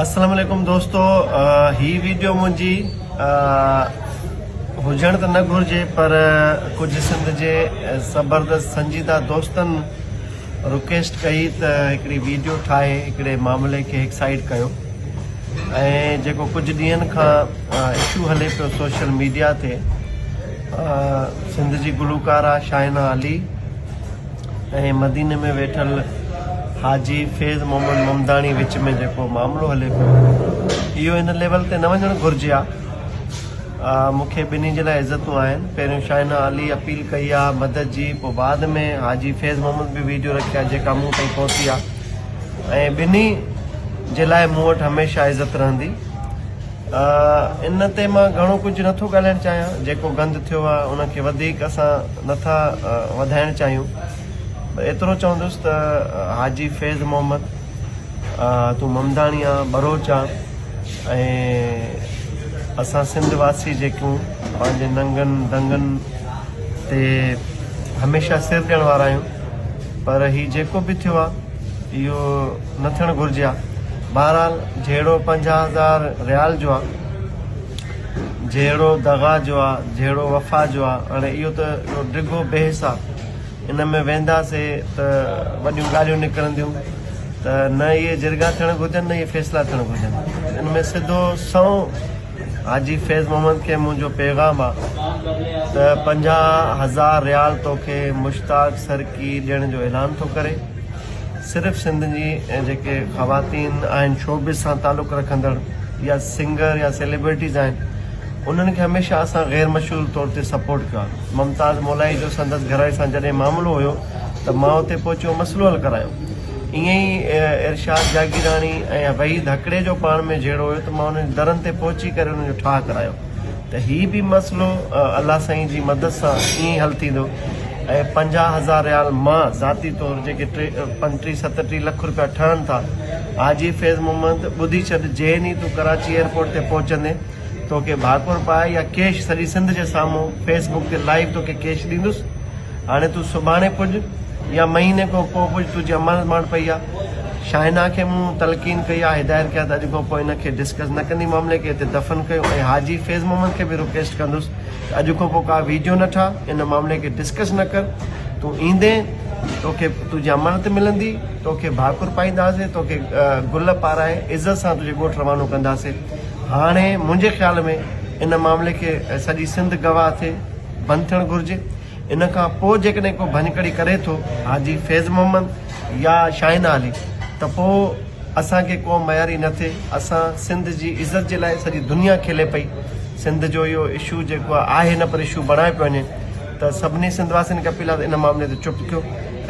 اسلام عليڪم دوستو هي ويڊيو منهنجي هجڻ ته نه گهرجي پر ڪجهه سنڌ جي زبردست سنجيده دوستن رڪويسٽ ڪئي ته هڪڙي ويڊيو ٺاهي هڪڙي معاملي کي هڪ سائيڊ ڪيو ۽ جيڪو ڪجهه ڏينهن کان اشو هلي پيو سوشل ميڊيا تي سنڌ جي گلوڪارا شائنا علي ۽ مديني ۾ ويٺل حاجي فيض محمد ممداڻي وچ ۾ جيڪو معاملو هلي پيو اهو هن ليول تي نه وڃڻ گهرجي ها مون کي ٻنهي جي لاء عزتون آهن پهريون شاهينا علي اپيل ڪئي ها مدد جي پوء بعد ۾ حاجي فيض محمد به ويڊيو رکي ها جيڪا مون تائين پهتي ها ۽ ٻنهي جي لاء مون وٽ هميشه عزت رهندي ان تي مان گهڻو ڪجهه نه ٿو ڳالهائڻ چاهيان، جيڪو گند ٿيو آهي ان کي وڌيڪ اسان نه ٿا وڌائڻ چاهيون، ايترو چوندس ته حاجي فيض محمد تون ممداڻي آهن، ٻروچ آهن ۽ اسان سنڌ واسي جيڪون پنهنجي ننگن دنگن تي هميشه سر ڏيڻ وارا آهيون پر هي جيڪو به ٿيو آهي، اهو نه ٿيڻ گهرجي ها بهرحال جهيڙو پنجاهه هزار ريال جو آهي جهيڙو دغا جو آهي جهيڙو وفا جو آهي هاڻي اهو ته ڊگهو بحث آهي ان ۾ وينداسي ته وڏيون ڳالهيون نڪرنديون ته نه اهي جرڳا ٿيڻ گهرجن نه اهي فيصلا ٿيڻ گهرجن ان ۾ سڌو سنئون حاجي فيض محمد کي منهنجو پيغام آهي ته پنجاهه هزار ريال توکي مشتاق سر ڪي ڏيڻ جو اعلان ٿو ڪري صرف سنڌ جي ۽ جيڪي خواتين آهن شوبز سان تعلق رکندڙ يا سنگر يا سيليبرٽيز آهن انهن کي هميشه اسان غير مشهور طور تي سپورٽ ڪيو آهي ممتاز مولائي جو سندس گهراري سان جڏهن معاملو هيو ته مان اتي پهچي اهو مسئلو حل ڪرايو ائين ئي ارشاد جاگيراڻي ۽ وحيد هڪڙي جو پاڻ ۾ جهيڙو هيو ته مان انهن جي درن تي پهچي ڪري انهن جو ٺاهه ڪرايو ته هي به مسئلو الله سائين جي مدد سان ائين ئي حل ٿيندو ۽ پنجاهه هزار ريال مان ذاتي طور جيڪي پنٽيهه ستٽيهه لک روپيا ٺهن ٿا حاجي فيض محمد ٻڌي ڇڏ جئين ئي تون ڪراچي ايئرپورٽ تي پهچندين توکي ڀاڪر پائي يا ڪيش سڄي سنڌ جي سامهون فيس بڪ تي لائيو توکي ڪيش ڏيندس هاڻي تون سڀاڻي پڄ يا مهيني کان پوء پڄ، تنهنجي اماڻت ماڻ پئي آ. شاهنه کي مون تلقين ڪئي آ، هدايت ڪئي آ ته اڄ کان پوء هن کي ڊسڪس نه ڪندي، معاملي کي هتي دفن ڪيو ۽ حاجي فيض محمد کي به رڪويسٽ ڪندس ته اڄ کان پوء ڪا ويڊيو نه ٺاهه، ان معاملي کي ڊسڪس نه ڪر، تون ايندين توکي تنهنجي اماڻت ملندي، توکي ڀاڪر پائينداسين، توکي گل پارائي عزت سان تنهنجي ڳوٺ روانو ڪنداسين. هاڻي منهنجي خيال ۾ ان معاملي کي سڄي سنڌ گواهه ٿئي. بند ٿيڻ گهرجي ان کان پوء جيڪڏهن ڪو ڀڃڪڙي ڪري ٿو حاجي فيض محمد يا شاهين علي ته پوء اسان کي ڪو مياري نه ٿئي اسان سنڌ جي عزت جي لاء سڄي دنيا کلي پئي سنڌ جو اهو اشو جيڪو آهي نه پر اشو بڻائي پيو وڃي ته سڀني سنڌ واسين کي اپيل آهي ته ان معاملي تي چپ ٿيو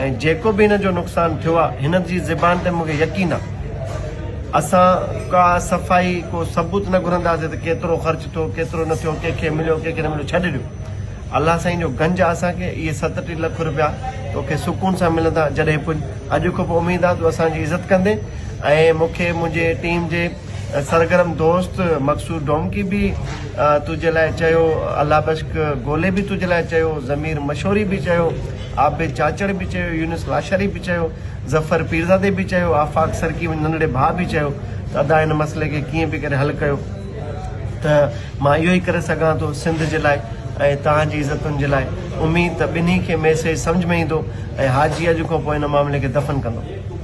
۽ جيڪو به هن جو نقصان ٿيو آهي هن جي زبان تي مونکي يقين آهي اسان ڪا صفائي ڪو ثبوت نه گهرنداسين ته ڪيترو خرچ ٿيو ڪيترو نه ٿيو ڪنهن کي مليو ڪنهن کي نه مليو ڇڏي ڏيو الله سائين جو گنج آهي اسان کي اهي ستٽيهه لک روپيا توکي سڪون سان ملندا جڏهن پڄ اڄ کان پوء اميد آهي تون اسان جي عزت ڪندين ۽ مونکي منهنجي ٽيم جي سرگرم دوست مقصود ڊومڪي به تنهنجي لاء چيو الله بشڪ گولي به تنهنجي لاء چيو ضمير مشوري به چيو عابد چاچڙ به چيو، يونس لاشاري به چيو، ظفر پيرزادي به چيو، آفاق سرڪي منهنجي ننڍڙي ڀاء به چيو ته ادا هن مسئلي کي ڪيئن به ڪري حل ڪيو ته مان اهو ئي ڪري سگهان ٿو سنڌ جي لاء ۽ توهان جي عزتن جي لاء. اميد ته ٻنهي کي ميسيج سمجهه ۾ ايندو ۽ حاجي اڄ کان پوء هن معاملي کي دفن ڪندو.